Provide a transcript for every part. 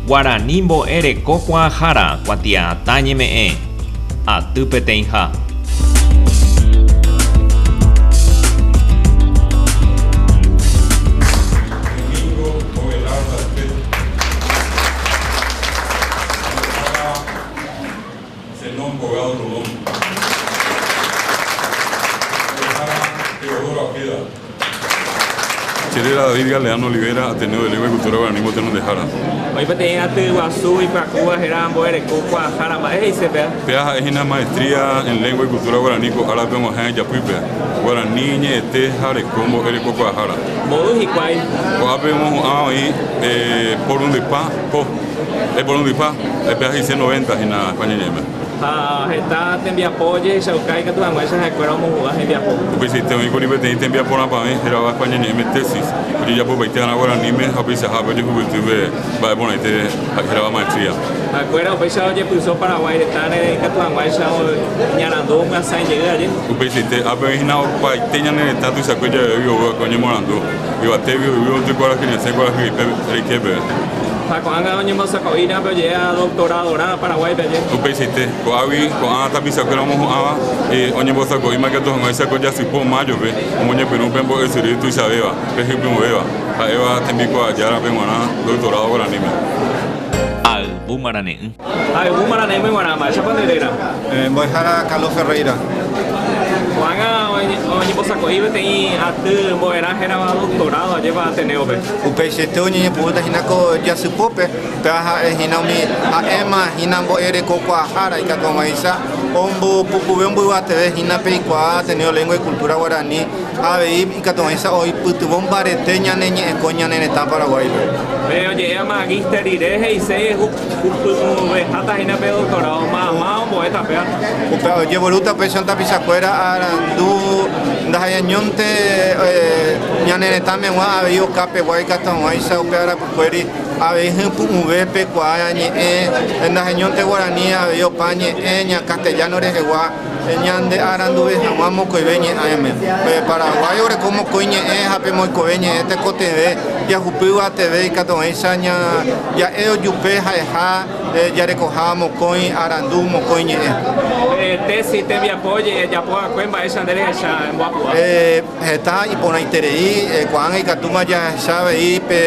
Guarani mbo'e reko kuaahára kuatiaatã ñeme'ẽ, aty peteĩha. Zenón Colgado Rodón, Mbo'ehára Teodoro Apeda. Chéréra David Galeano Olivera, Ateneo de Lengua y Cultura Guaraní Mbotenondehára. Oĩ peteĩ aty guasu ipyakúva héra Mbo'ereko Kuaahára. Mba'e he'ise péa? Péa ha'e hína Maestría en Lengua y Cultura Guaraní ko árape og̃uahẽ ijapýpe, Guarani ñe'ẽte ha reko Mbo'ereko Kuaahára. Mboy hikuái. Ko'ápe omohu'ã oĩ Porundypa ko. Eporundypa, epea he'ise noventa hína España-ñe'ẽme. Ha heta tembiapo ojehechauka ikatu hag̃uáicha ha'ekuéra omohu'ã hembiapo. Upeichaite oĩkuri peteĩ tembiapo rapavẽ hérava España-ñe'ẽme tesis, ojejapopaite g̃uarã guaraníme ha upeichahápe ojehuguýtýpe mba'e porãite hérava maestría. Ha'ekuéra upéicha ojepyso Paraguái retãre ikatu hag̃uáicha oñarandu omyasãijey aje. Upeichaite ápe oĩhína opaite ñane retã tuichakue javégui oúvape oñemorandu. Yvatégui yvy oty kuarahy resẽ kuarahyete reiképe rẽ. Ha ko'ág̃a oñembosakoi ra'ãpe oje'éva doktoradorã Paraguáipe aje. Upeichaite, ko'águi ko'ã tapichakuéra omohu'ãva oñembosako'íma katu hag̃uáicha ko jasypóo májope omoñepyrũ upe mbo'esyry tuichavéva, pe hypyũvéva, ha'éva tembikuaajárape g̃uarã doktorádo guaraníme. Ayvu marane'ỹ. Ha'evu maranéme g̃uarã, mba'éichapa nde réra? Mbo'ehára Carlos Ferreira. Ko'ág̃a oñembosako'i peteĩ aty mbo'erã hérava doctorado ajépa Ateneo-pe. Upeichaite oñeñepyrũta hína ko jasypópe, péva ha'e hína umi ha'éma hína mbo'erekokuaahára ikatuãvaicha ombopukuve omboyvateve hína peikuaa Ateneo Lengua y Cultura Guarani ha avei ikatuãvaicha oipytyvõ mbarete ñane ñe'ẽkõ ñane retã Paraguáipe. Pe oje'éva magíster rire he'iséi Ovejáta hína pe doktorádo, mayma ombo'éta péva. Upéva ojevorúta pe Santa Pichakuéra arandu ndaha'eñónte ñane retãmegua avei oka pegua ikatuaguãicha upe arapykuéri avei hypu'ũve pe kuaa ñe'ẽ ndaha'eñónte guarani avei opa ñe'ẽ castellano rehegua. Ñande aranduve hag̃ua mokõive ñe'ãme. Pe Paraguái oreko mokõi ñe'ẽ ha pe moikove ñe'ẽ tekotevẽ jahupýva teve ikatuvéicha ja'e ojupe ha'eha jarekoha mokõi arandu, mokõi ñe'ẽ. Pe tési tembiapo jejapo va'ekue mba'éicha nde rehecha emboapu'a. Heta iporãiterei ko'ág̃a ikatúma jahecha avei pe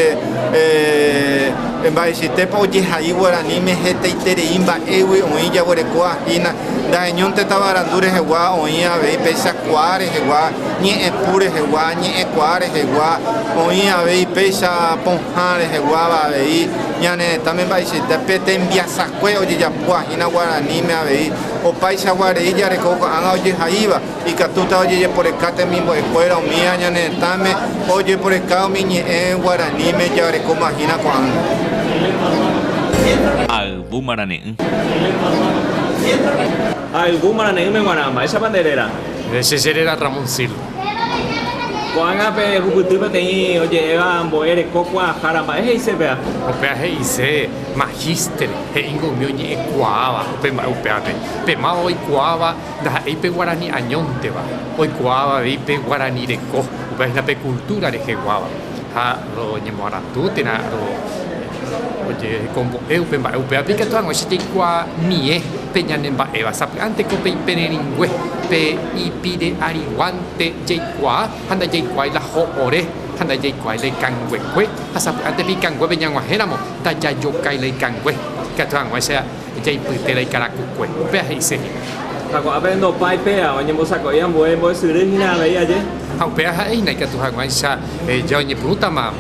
mba'eichaitépa ojehai guaraníme hetaiterei mba'égui oĩ jaguerekóva hína, ndaheñónte tavarandu rehegua oĩ avei péicha kuaa rehegua, ñe'ẽpu rehegua, ñe'ẽkuaa rehegua, oĩ avei péicha pohã reheguáva avei ñane retãme mba'eichaite pe tembiasakue ojejapóva hína guaraníme avei opaichagua rei jareko ko'ág̃a ojehaíva. Ikatúta ojejeporeka temimbo'ekuéra umíva ñane retãme ojeporeka umi ñe'ẽ guaraníme jarekómahína ko'ág̃a. Ha yvu marane'ỹ. Ha yvu marane'ỹme g̃uarã. Mba'éichapa nde réra? Nde che réra Ramoncildo. Ko'ág̃a pe hupyty peteĩ oje'éva mbo'e reko kuaahára, mba'e he'ise péa? Upéva he'ise magíster, he'íngo umi oñe'ẽ kuaáva upe mba'e upévape. Pe máva oikuaáva. Ndaha'éi pe guarani añónteva, oikuaáva avei pe guarani reko, upe hína pe kultúra reheguáva. Ha roñemoarandu térã rojehekombo'e upe mba'e. Upévape ikatu hag̃ua che jaikuaamie pe ñane mba'éva. Sapy'ánteko pe ipererĩngue, pe ipire'ariguánte jaikuaa ha ndajaikuaái la ho ore ha ndajaikuaái la ikanguekue, ha sapy'ánte pe ikanguépe ñag̃uahẽramo, ndajajokái la ikangue. Ikatu hag̃ua che. Jaipy térã ikarakukue. Upéva he'ise hína. Ha ko'ã pene ndopái péva, oñembosako'i ambue mbo'esyry hína avei aje. Ha upéva ha'e hína ikatu haguãicha ja oñepyrũtama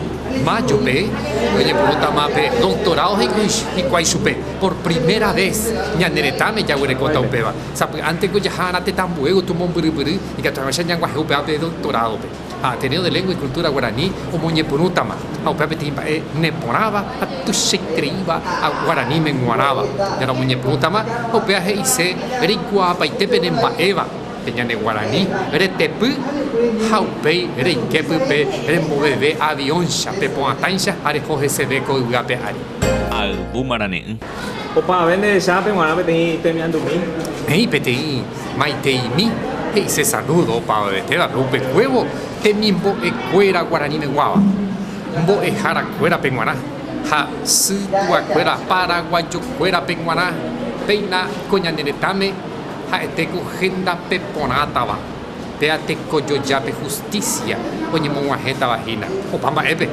májope, oñepyrũtama pe doktorádo hikuái chupe, por primera ves ñane retãme jaguerekóta upéva. Sapy'ánte ko jaha ára tetã ambue gotyo mombyrypyry ikatu haguãicha ñaguahẽ upéva pe doktorádope. ha Ateneo de Lengua y Cultura Guarani omoñepyrũtama, ha upéva peteĩ mba'e neporãva ha tuichaitereíva guaraníme g̃uarãva. Ñande omoñepyrũtama ha upéva he'ise reikuaapaite pene mba'éva, pe ñane guarani retepy ha upéi reiképy pe remboveve avióncha, pe po'ã táicha ha reho heseve ko yvy ape ári. Ayvu marane'ỹ. Opavave nderecha ape g̃uarã peteĩ itemiandumi. He'i peteĩ maiteimi he'ise saludo opavavetéva pe upe huévo temimbo'e kuéra guaraníme guáva, mbo'ehára kuéra pe g̃uarã ha sy púa kuéra paraguayo kuéra pe g̃uarã. Péina ko ñane retãme ha'ete ko henda pe porãtava. Péa tekojoja pe hustísia oñemog̃uahẽtava hína opa mba'épe,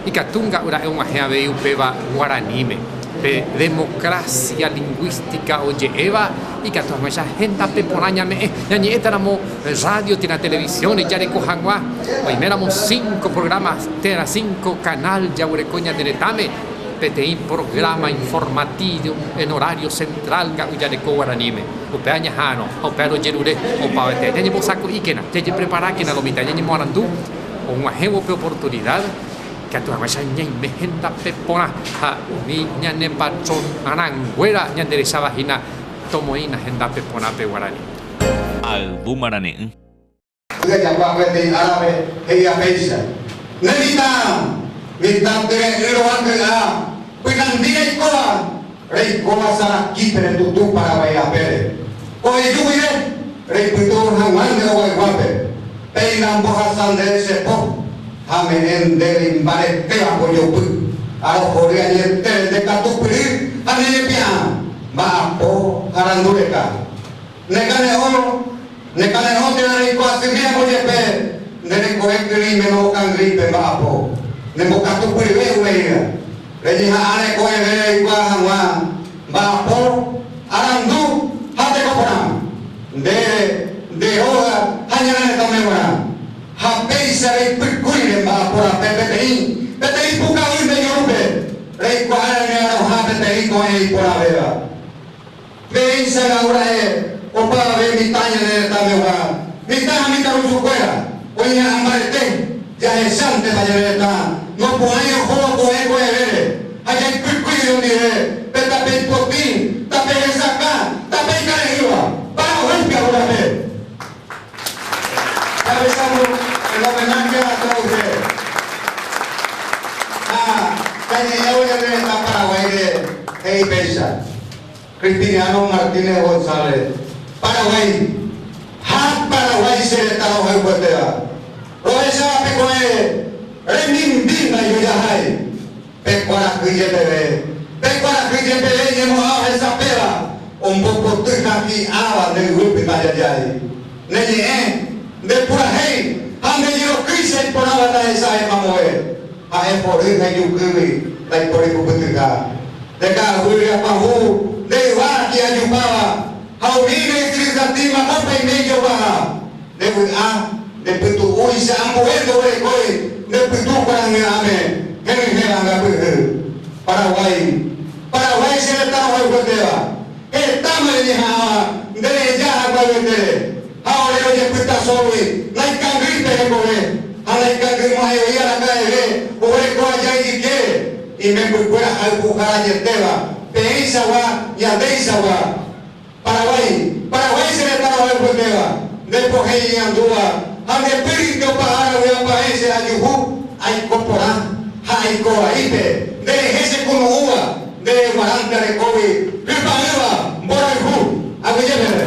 ikatu nga'yra'e og̃uahẽ avei upéva guaraníme. Pe democracia lingüística oje'éva ikatu hag̃uáicha hendape porã ñame'ẽ. Ñañe'ẽtaramo radio térã televisión rejareko hag̃ua, oiméramo cinco programa térã cinco canal jaguereko ñane retãme, peteĩ programa informativo en horario central nga'yjareko guaraníme. Upe añeha'arõ ha upe aro jerure opavave ñañembosako'íkena, jajepreparákena lo mitã ñañemoarandu og̃uahẽvo upe oportunida, ikatu hag̃uáicha ñaime hendape porã ha umi ñane patron rãnguéra ñanderecháva hína tomoĩna hendape porã pe guarani. Ayvu marane'ỹ. Py'ajakuaa peteĩ árape he'íva péicha, Ne mitã, mitã tyre'ỹ rova ky'a, pynandi reikóva, reikóva Saraquí pene tutu Paraguái rapére. Oheju guive, reipytyvõ hag̃ua nde oguayguápe, péina mbohasa ndéve che po, ha me'ẽ ndéve imbaretéva mbojopy, ha rohory añetére nde katupyry ha ne repi'ã, mba'apo ha randureka. Nekane'õ, nekane'õ térã reikuaa sy tiémpo jepe nde rekove kyrỹime novokangy pe mba'apo, nembokatu pyve umeíva. Reñeha'ã reko reve reikuaa hag̃ua mba'apo, arandu ha teko porã, ndéve, nde róga ha ñane retãme g̃uarã. Ha péicha reipykúi re mba'apo rape peteĩ, peteĩ pukavýnte ijurúpe, reikuaa reme'arõha peteĩ ko'ẽ iporãvéva. Ferensa Gaur Aer, oparave mitã ñane retãvegua, mitã ha mitãrusukuéra, oĩra'ã mbarete, jahechántepa ñane retã, nopu'ãi ohóvo ko'ẽ ko'ẽrére, ha jaipykui irundive, pe tape ipotĩ, tape hesakã, tape ikarehýva, para ohecha hógape. Jahechamo el homenaje a todos ustedes, ha jañe'ẽvo ñane retã Paraguáire he'i péicha. Cristiniano Martínez González, Paraguái, ha Paraguái che retã rohayhuetéva, rohecháva pe ko'ẽ remimbi ndoijojahái, pe kuarahy jepeve, pe kuarahy jepeve ñemo'ã ohesapéva, ombopoty ha hi'ãva nde yvy pytã jajái. Ne ñe'ẽ, nde purahéi ha nde jerokýi che iporãva ndahecha'e mamove, ha'e pory ha ijukýgui ndaipóri kupytyha. Nde ka'aguýre apavu nde yva hi'ajupáva ha umi nde'ytyryhatĩ mamópe aime ijopaha. Nde vy'a, nde pytu'úicha ambue ndoguerekói nde pytu kuarahy'ãme henyhẽva ngapyhy. Paraguái, Paraguái che retãrohayhuetéva. Hetáma reñeha'ã nde reja haguaguetére, ha ore ojepyta sógui naikangýi pe hekove, ha naikangýimo'ãiogui araka'eve oguereko aja ijykére, imembykuéra haypuharajetéva, peẽichagua, ñandéichagua. Paraguái, Paraguái che retã rohayhuetéva, nde pohẽ iñandúva, ha nde pýrinte opa ára vy'apa'ẽ che ajuhu, aiko porã, ha aiko vaípe, nde rehe che kunu'ũva, Nde guarãnte arekógui hypa'ỹva mborayhu. Aguyje peve.